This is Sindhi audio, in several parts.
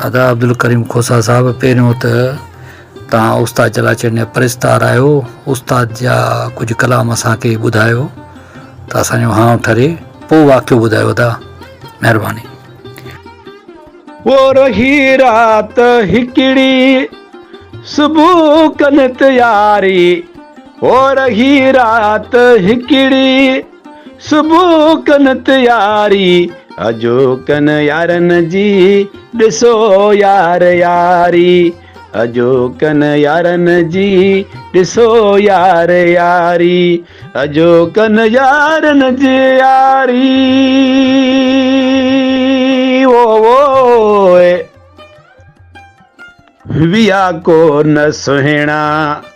ادا عبدالڪريم کوسا صاحب پهريون ته تان استاد چلاچيڻ جا پرستار آهيو استاد جا ڪجهه ڪلام اسان کي ٻڌايو ته اسان جو هانء ٺري پوء واقعو ٻڌايو ادا مهرباني پورهي رات هڪڙي صبح ڪن تياري پورهي رات هڪڙي صبح ڪن تياري اڄ ڪن يارن جي ڏسو يار ياري اڄ ڪن يارن جي ڏسو يار ياري اڄ ڪن يارن جي ياري ويا ڪو نه سهڻا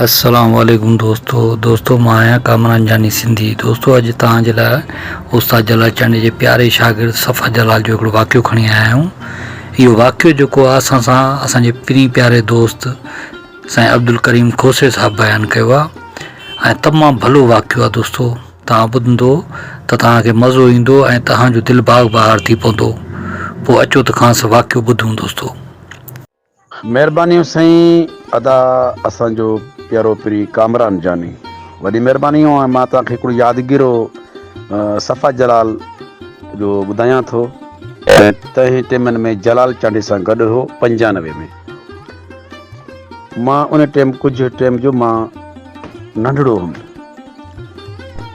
السلام عليڪم دوستو دوستو مان آهيان ڪامران انجاني سنڌي دوستو اڄ توهان جي لاء استاد جلال چانڊيي جي پياري شاگرد صفا جلال جو هڪڙو واقعو کڻي آيا آهيون اهو واقعو جيڪو آهي اسان سان اسان جي پرين پياري دوست سائين عبدالڪريم کوسي صاحب بيان ڪيو آهي ۽ تمام ڀلو واقعو آهي دوستو توهان ٻڌندو ته توهان کي مزو ايندو ۽ توهان جو دل باغ بهار ٿي پوندو پوء اچو ته کانس واقعو ٻڌون دوستو مھربانيون سائين ادا اسان جو پيارو پري ڪامران جاني وڏي مھرباني ھو مان توھان کي ھڪڙو يادگيرو صفا جلال جو ٻڌايان ٿو تنهن ٽيمن ۾ جلال چانڊي سان گڏ ھو پنجانوي ۾ مان ان ٽيم ڪجھ ٽيم جو مان ننڍڙو ھم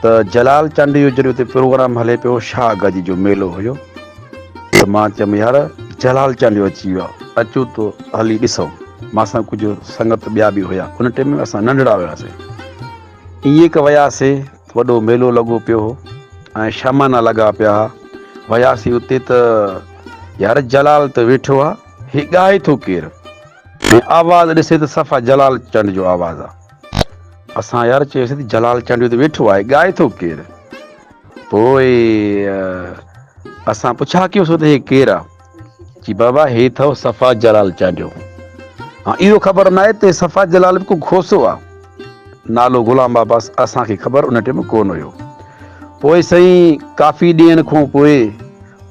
ته جلال چانڊي جو جڏھن اتي پروگرام ھلي پيو شاھ گاجي جو ميلو ھيو ته مان چيم يار جلال چانڊيو اچي ويو آهي اچو ته هلي ڏسون مان سان ڪجهه سنگت ٻيا به هيا ان ٽيم ۾ اسان ننڍڙا هياسين ائين هڪ وياسين وڏو ميلو لڳو پيو هو ۽ شامانا لڳا پيا هئا وياسين اتي ته يار جلال ته ويٺو آهي هي ڳائي ٿو ڪير آواز ڏسي ته صفا جلال چنڊ جو آواز آهي اسان يار چيس ته جلال چانڊيو ته ويٺو آهي ڳائي ٿو ڪير پوء اسان پڇا ڪيوسو ته هي ڪير آ چي بابا هي ٿو صفا جلال چانڊيو ها اهو خبر نه آهي ته صفا جلال به ڪو کوسو آ نالو غلام بابا اسان کي خبر ان ٽيم ڪون هيو پوء سائين ڪافي ڏينهن کون پوء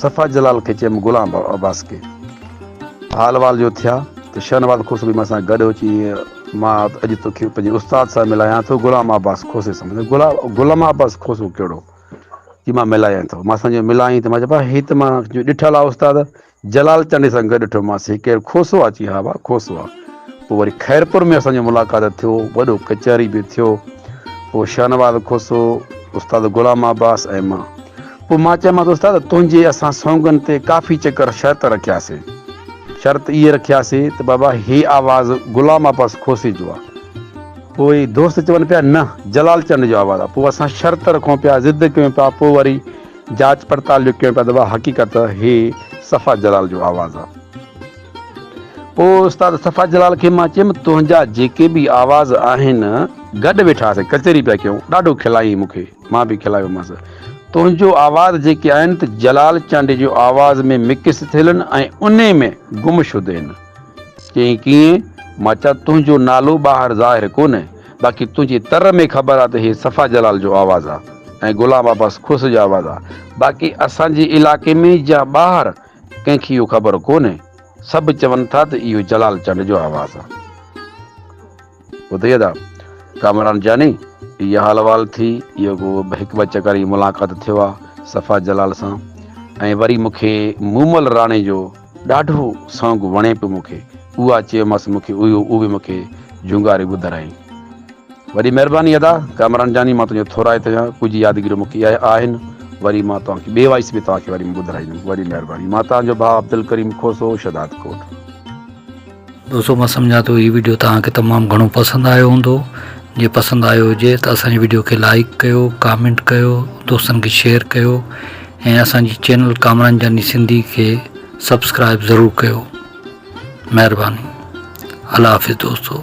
صفا جلال کي چيم غلام عباس کي حال وال جو ٿيا ته شهنواز کوسو به مان سان گڏ هو چي مان اڄ توکي پنهنجي استاد سان ملايان ٿو غلام عباس کوسي سمجهي غلام عباس کوسو ڪهڙو چي مان ملايان ٿو مان سان جو ملايان ته مان چيبا هي ته مان جو ڏٺل آ استاد جلال چانڊي سان گڏ ڏٺو مانس هي ڪير کوسو آ چي ها با کوسو آ پوء وري خيرپور ۾ اسان جو ملاقات ٿيو وڏو ڪچهري به ٿيو پوء شهنواز کوسو استاد غلام عباس ۽ مان پوء مان چيمانس استاد تنهنجي اسان سونگن تي ڪافي چڪر شرط رکياسي. شرط اهي رکياسي ته بابا هي آواز غلام عباس کوسي جو آ. پوء دوست چون پيا نه جلال چنڊ جو آواز آ. پوء اسان شرط رکون پيا ضد ڪيون پيا پوء وري جاچ پڙتال جو ڪيون پيا ته وا حقيقت هي صفا جلال جو آواز آ. پوء استاد صفا جلال کي مان چيم تنهنجا جيڪي به آواز آهن گڏ ويٺاسي ڪچهري پيا ڪيون ڏاڍو کلائين مون کي. مان به کلايومانس تنهنجو آواز جيڪي آهن ته جلال چانڊي جي آواز ۾ مڪس ٿيل ان ۽ انهي ۾ گم شد ان. چيائين ڪيئن؟ مان چيا تنهنجو نالو ٻاهر ظاهر ڪونهي باقي تنهنجي تر ۾ خبر آ ته هي صفا جلال جو آواز آ ۽ غلام عباس کوسي جو آواز آ باقي اسان جي علائقي ۾ يا ٻاهر ڪنهن کي اهو خبر ڪونهي سڀ چون ٿا ته اهو جلال چانڊي جو آواز آ. ٻڌئي ادا ڪامران جاني اها حال وال ٿي اهو ڪو هڪ ٻه چڪر ئي ملاقات ٿيو آ صفا جلال سان ۽ وري مون کي مومل راڻي جو ڏاڍو سانگ وڻي پيو مون کي اها چيومس مون کي اهو اهي مون کي جهونگاري ٻڌرائين وڏي مهرباني ادا ڪامران جاني مان تنهنجو ٿورائت آهيان ڪجهه يادگيريون مون کي اهي آهن وري مان توهان کي ٻي وائس ۾ توهان کي وري ٻڌرائيندم وڏي مهرباني مان تنهنجو ڀاء عبدالڪريم کوسو شهداد ڪوٽ دوستو مان سمجهان ٿو هي ويڊيو توهان کي تمام گهڻو پسند آيو هوندو جي پسند آيو هجي ته اسان جي ويڊيو کي لائڪ ڪيو ڪامينٽ ڪيو دوستن کي شيئر ڪيو ۽ اسان جي چينل ڪامران جاني سنڌي کي سبسڪرائب ضرور ڪيو مهرباني الله حافظ دوستو